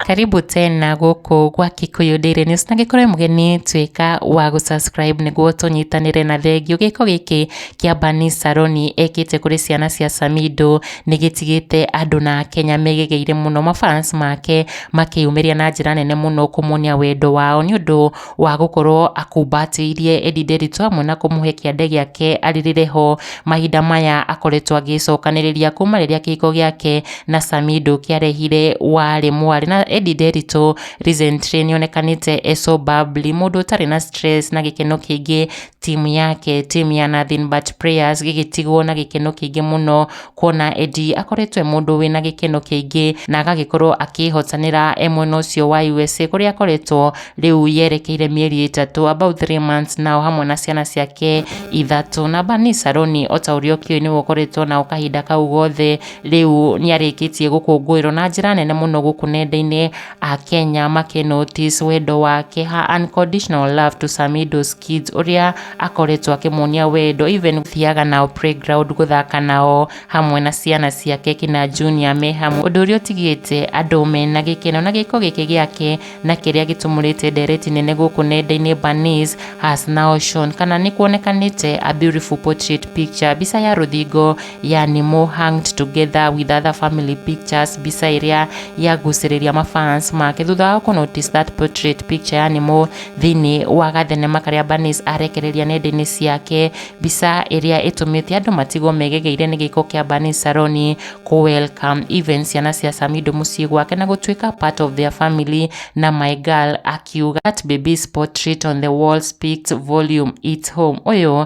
karibu tena gũkũ gwa kikuyu daily news na gĩkorwo wĩ mũgeni tuĩka wa gũsubscribe nĩguo tũnyitanĩre na thengiũ gĩko gĩkĩ kĩa bani saroni ekĩte kũrĩ ciana cia samido nĩgĩtigĩte andũ na kenya megegeire mũno mafans make makĩyumĩria na njĩra nene mũno kũmuonia wendo wao nĩ ũndũ wa gũkorwo akumbatĩirie Eddie Nderitu amwe na kũmũhe kĩande gĩake arĩrĩre ho mahinda maya akoretwo agĩcokanĩrĩria kuma rĩrĩa kĩhiko gĩake na Samido kĩarehire warĩ mwarĩ na Eddie Nderitu recently nĩonekanĩte e so bubbly mũndũ ũtarĩ na stress na gĩkeno kĩingĩ timu yake timu ya Nothing But Prayers gĩgĩtigwo na gĩkeno kĩingĩ mũno kuona Eddie akoretwo e mũndũ wĩna gĩkeno kĩingĩ na agagĩkorwo akĩhotanĩra e mwena ũcio wa USA kũrĩa akoretwo rĩu yerekeire mĩeri ĩtatũ about 3 months nao hamwe na ciana ciake ithatũ na Bani Saroni o ta ũrĩa ũkĩũĩ nĩwe ũkoretwo nao kahinda kau gothe rĩu nĩarĩkĩtie gũkũngũĩrwo na njĩra nene mũno gũkũ nenda-inĩ Akenya makĩ notice wendo wake, her unconditional love to Samido's kids, ũrĩa akoretwo akĩmonia wendo even gũthiaga nao playground gũthaka nao hamwe na ciana ciake kina junior me hamwe, ũndũ ũrĩa ũtigĩte andũ mena gĩkeno na gĩko gĩkĩ gĩake na kĩrĩa gĩtumũrĩte ndereti nene gũkũ nenda-inĩ Bernice has now shown kana nĩ kuonekanĩte a beautiful portrait picture, mbica ya rũthingo yani more hanged together with other family pictures mbica ĩrĩa yagucĩrĩria mafans make thutha wa kũnotice that portrait picture yani more thĩinĩ wa gathenema karĩa Banis arekereria nenda-inĩ ciake mbica ĩrĩa ĩtũmĩte andũ matigwo megegeire nĩ gĩko kĩa Banis Saroni kũ welcome even ciana cia Samido mũciĩ gwake na gũtuĩka part of their family na my girl akiuga that baby's portrait on the wall speaks volume it's home ũyũ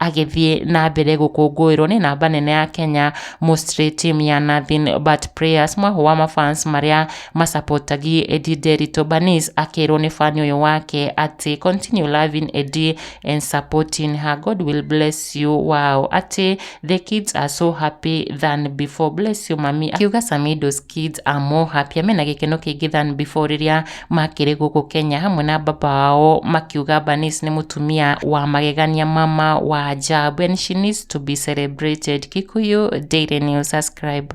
agĩthiĩ na mbere gũkũngũĩrwo nĩ namba nene ya Kenya mostly team ya nothing but prayers mwaho wa mafans marĩa masapotagie Eddie Derito Banis akĩrwo nĩ fan ũyũ wake atĩ continue loving Eddie and supporting her God will bless you wow atĩ the kids are so happy than before bless you mami akiuga Samido's kids are more happy mena gĩkeno kĩingĩ than before rĩrĩa makĩrĩ gũkũ Kenya hamwe na baba wao makiuga Bernice nĩ mũtumia wa magegania mama wa ajabu and she needs to be celebrated Kikuyu Daily News subscribe